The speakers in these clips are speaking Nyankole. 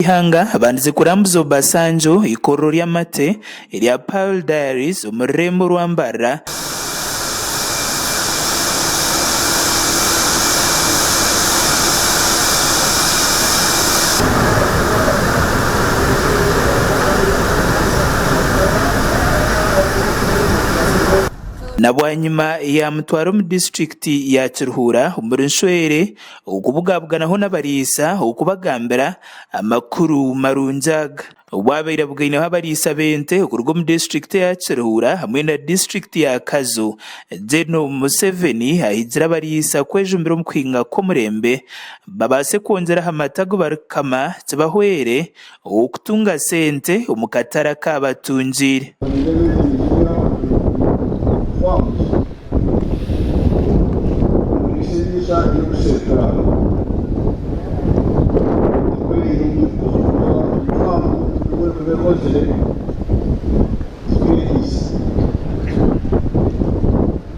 Ihanga bandize kurambuza Obasanjo eikorero ry'amate erya Pearl Diaries omu rurembo rwa Mbarara. Na bwanyima yamutwara omu disiturikiti ya Kiruhura omuri Nshwere. okubugabuganaho n'abariisa okubagambira amakuru marungi aga. Obwabaire abugaineho abariisa b'ente okuruga omu disiturikiti ya Kiruhura hamwe na disiturikiti ya Kazo, Gen Museveni ahigiire abariisa kwejumbira omu kuhinga kw'omurembe babaase kwongyera aha mata agu barikukama kibahwere ow'okutunga sente omu katare aku aba atungiire.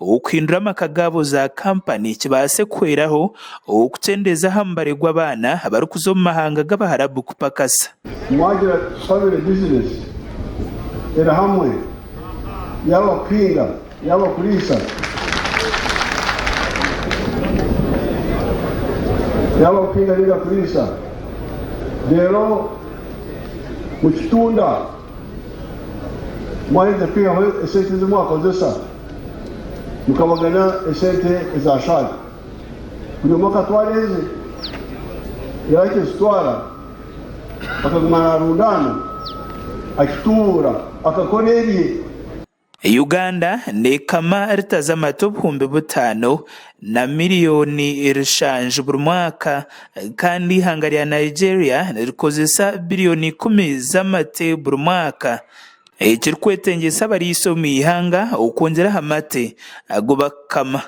ow'okuhindura amaka gaabo za kampani kibaase kuhweraho, ow'okukyendeeza aha mubare gw'abaana abarikuza omu mahanga g'Abaharabu kupakasa. Mwagira ati, Tushabire bizinesi eri hamwe, yaaba kuhinga, yaaba kuriisa, yaaba kuhinga nainga kuriisa, reero mukitunda. Mwaheza kwihaho esente ezi mwakozesa, mukabagana esente eza shaagi. Buri omwe akatwara eze, yaaba akizitwara akaguma naarundaana, akituura, akakora ebye. Uganda neekama lita z'amata obuhumbi butaano na miriyooni rshanju buri mwaka kandi eihanga rya Nigeria nirikozesa biriyooni ikumi z'amate buri mwaka ekirikwetengyesa abariisa omu ihanga okwongyera aha mate agu barikukama.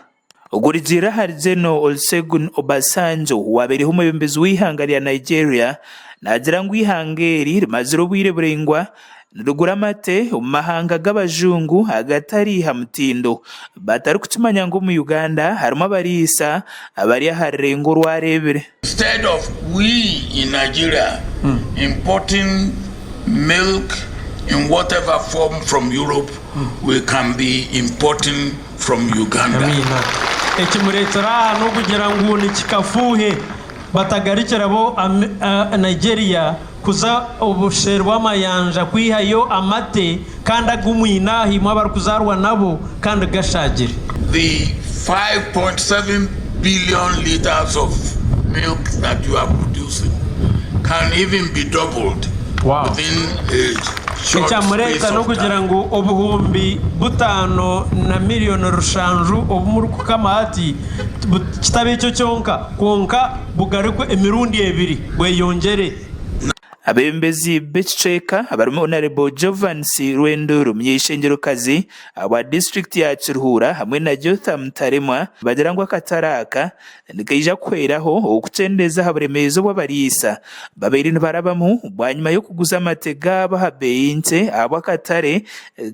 Ogurigiirire ahari Gen Olusegun Obasanjo waabaireho omwebembezi w'eihanga rya Nigeria naagira ngu eihanga eri rimazire obwire buraingwa nirigura amate omu mahanga g'abajungu agatari ha mutindo batarikukimanya ngu omu Uganda harimu abariisa abari aha rurengo orwareebire. Instead of we in Nigeria importing milk in whatever form from Europe, we can be importing from Uganda. Amiina. Ekimureetsire aha n'okugira ngu ni kikafuuhe batagarukiraho Nigeria. Kuza obuseeri bw'amayanja kwihayo amate kandi agu mwine aha imwe abarikuzaarwa nabo kandi gashaagire. The five point seven billion litres of milk that you are producing can even be doubled within a short space of time. Ekyamureta n'okugira ngu obuhumbi butaano na millioni rushanju obu murikukama hati, kitabe ekyo kyonka. Kwonka bugarikwe emirundi ebiri, bweyongyere. Abebembezi b'ekicweka abarimu Honarebo Jovans Rwendo Rumyeishengerokazi owa disiturikiti ya Kiruhura hamwe na Jotham Taremwa nibagira ngu akatare aka nikaija kuhweraho okukyendeeza aha buremeezi obu abariisa babaire nibarabamu bwanyima y'okuguza amate gaabo aha beeyi nkye ahabw'akatare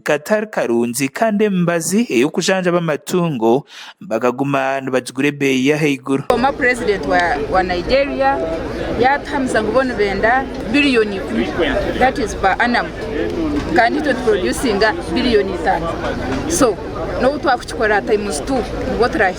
katari karungi kandi emibazi ey'okujanjaba amatungo bakaguma nibagigura ebeeyi y'ahaiguru. Former president wa wa Nigeria yatuhamisa ngu bo nibenda billion ikumi that is per annum kandi itwe tuproducinga billion itano so nobu twakukikora times two nibwo turahi